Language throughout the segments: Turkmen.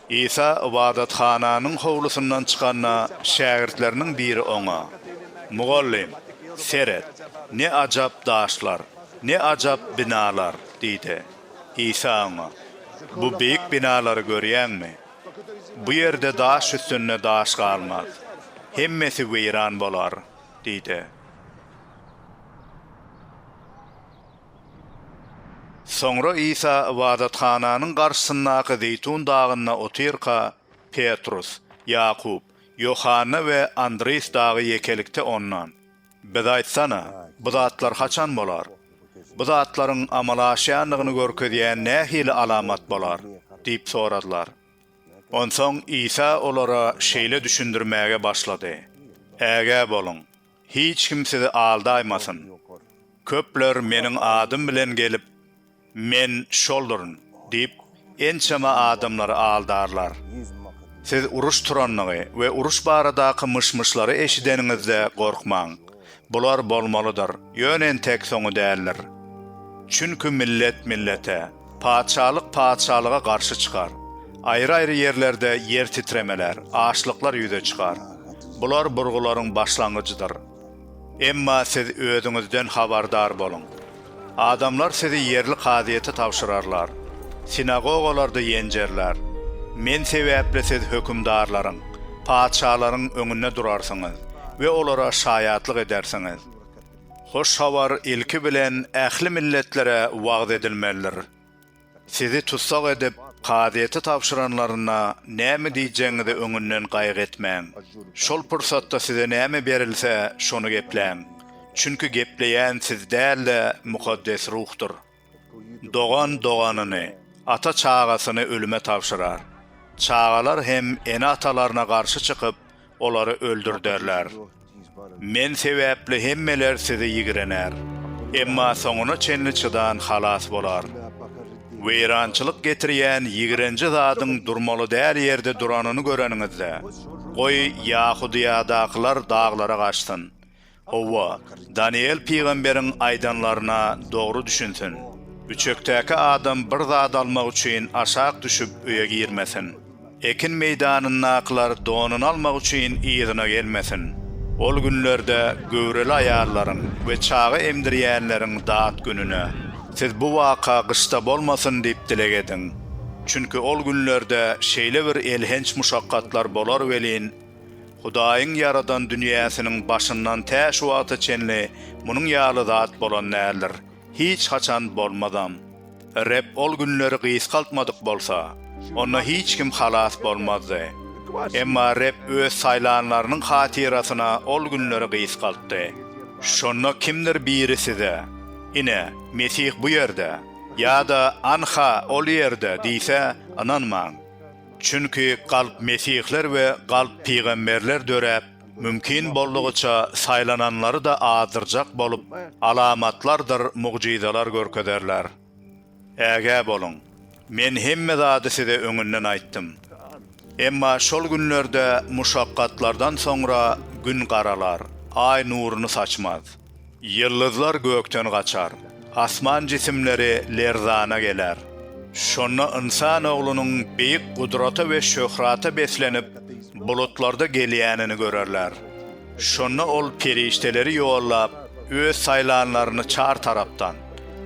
Isa ybadathananyň howlusyndan çykanda, şägirtleriniň biri Oňa, Mugallym, seret, ne ajap daşlar, ne ajap binalar! diýdi. Isa oňa, Bu beýik binalary görýäňmi? Bu ýerde daş üstünde daş galmaz. Hemmesi weýran bolar! diýdi. Soňra Isa ybadathananyň garşysyndaky Zeýtun dagynda otyrka, Petrus, Ýakup, Ýohanna we Andris dagy ýekelikde Ondan, Biz aýtsana, bu zatlar haçan bolar? Bu zatlaryň amala aşýandygyny görkezýän nähili alamat bolar? diýip soradylar. Onsoň Isa olara şeýle düşündirmäge başlady, Ägä boluň! Hiç kim sizi aldaýmasyn. Köpler Meniň adym bilen gelip, Men şolduryn! diýip, ençeme adamlary aldarlar. Siz uruş turandygy we uruş baradaky myş-myşlary eşideniňizde gorkmaň. Bular bolmalydyr, ýöne entek soňy däldir. Çünki millet millete, Patyşalyk patyşalyga garşy çykar. Aýry-aýry ýerlerde ýer titremeler, açlyklar ýüze çykar. Bular burgularyň başlangyjydyr. Emma siz özüňizden habardar boluň. Adamlar sizi ýerli kazyýete tabşyrarlar. Sinagogalarda ýenjerler. Men sebäpli siz hökümdarlaryň, patyşalaryň öňünde durarsyňyz we olara şaýatlyk edersiňiz. Hoş habar ilki bilen ähli milletlere wagyz edilmelidir. Sizi tussag edip, kazyýete tabşyranlarynda näme diýjegiňizi öňünden gaýgy etmäň. Şol pursatda size näme berilse, şony gepläň. Çünki gepleýän siz däl-de, Mukaddes Ruhdyr. Dogan doganyny, ata çagasyny ölüme tabşyrar. Çagalar hem ene-atalaryna garşy çykyp, olary öldürderler. Men sebäpli hemmeler sizi ýigrener. Emma soňuna çenli çydan halas bolar. Weýrançylyk getirýän ýigrenji zadyň durmaly däl ýerde duranyny göreniňizde, goý, Ýahudyýadakylar daglara gaçsyn. Hawa, Danyýel pygamberiň aýdanlaryna dogry düşünsin. Üçekdäki adam bir zat almak üçin aşak düşüp öýe girmesin. Ekin meýdanyndakylar donuny almak üçin yzyna gelmesin. Ol günlerde göwreli aýallaryň we çaga emdirýänleriň dat gününe, siz bu waka gyşda bolmasyn diýip dileg ediň. Çünki ol günlerde şeýle bir elhenç muşakgatlar bolar welin, Hudaýyň ýaradan dünýäsiniň başyndan tä şu wagta çenli munuň ýaly zat bolan däldir, hiç haçan bolmazam. Reb ol günleri gysgaltmadyk bolsa, onda hiç kim halas bolmazdy. Emma Reb Öz saýlanlarynyň hatyrasyna ol günleri gysgaltdy. Şonda kimdir biri size, Ine, Mesih bu ýerde! ýa-da Anha, ol ýerde! diýse, ynanmaň. Çünki galp mesihler we galp pygamberler döräp, mümkin boldugyça saýlananlary-da azdyrjak bolup, alamatlardyr mugjyzalar görkezerler. Ägä boluň! Men hemme zady size öňünden aýtdym. Emma şol günlerde muşakgatlardan soňra gün garalar, aý nuruny saçmaz. Ýyldyzlar gökden gaçar. Asman jisimleri lerzana geler. Şonda Ynsan Oglunyň beýik gudrata we şöhrata beslenip, bulutlarda gelýänini görerler. Şonda Ol perişdeleri ýollap, Öz saýlanlaryny çar tarapdan,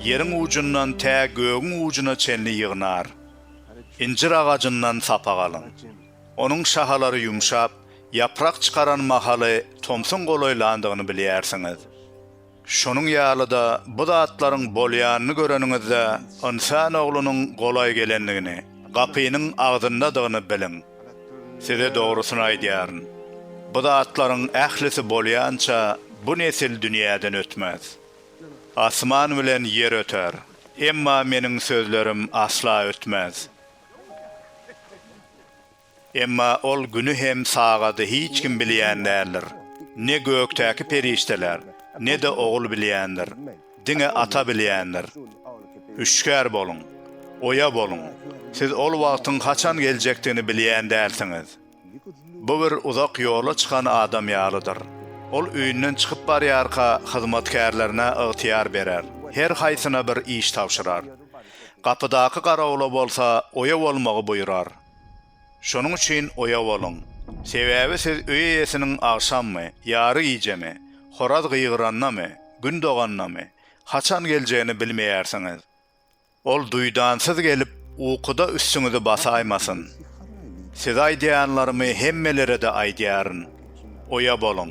ýeriň ujundan tä gögüň ujuna çenli ýygnar. Injir agajyndan sapak alyň. Onuň şahalary ýumşap, ýaprak çykaran mahaly tomsuň golaýlandygyny bilýärsiňiz. Şonuň ýaly-da bu zatlaryň bolýanyny göreniňizde Ynsan Oglunyň golaý gelendigini, gapynyň agzyndadygyny biliň. Size dogrusyny aýdýaryn, bu zatlaryň ählisi bolýança bu nesil dünýäden ötmez. Asman bilen ýer öter, emma Meniň sözlerim asla ötmez. Emma ol güni hem sagady hiç kim bilýän däldir. Ne gökdäki perişdeler, ne-de Ogul bilýändir. Diňe Ata bilýändir. Hüşgär boluň! Oýa boluň! Siz ol wagtyň haçan geljekdigini bilýän dälsiňiz. Bu bir uzak ýola çykan adam ýalydyr. Ol öýünden çykyp barýarka, hyzmatkärlerine ygtyýar berer, her haýsyna bir iş tabşyrar. Gapydaky garawula bolsa oýa bolmagy buýrar. Şonuň üçin oýa boluň. Sebäbi siz öý eýesiniň agşammy, ýary gijemi, horaz gygyrandamy, gün dogandamy, haçan geljegini bilmeýärsiňiz. Ol duýdansyz gelip, ukuda üstüňizi basaýmasyn. Size aýdýanlarymy hemmelere-de aýdýaryn. Oýa boluň!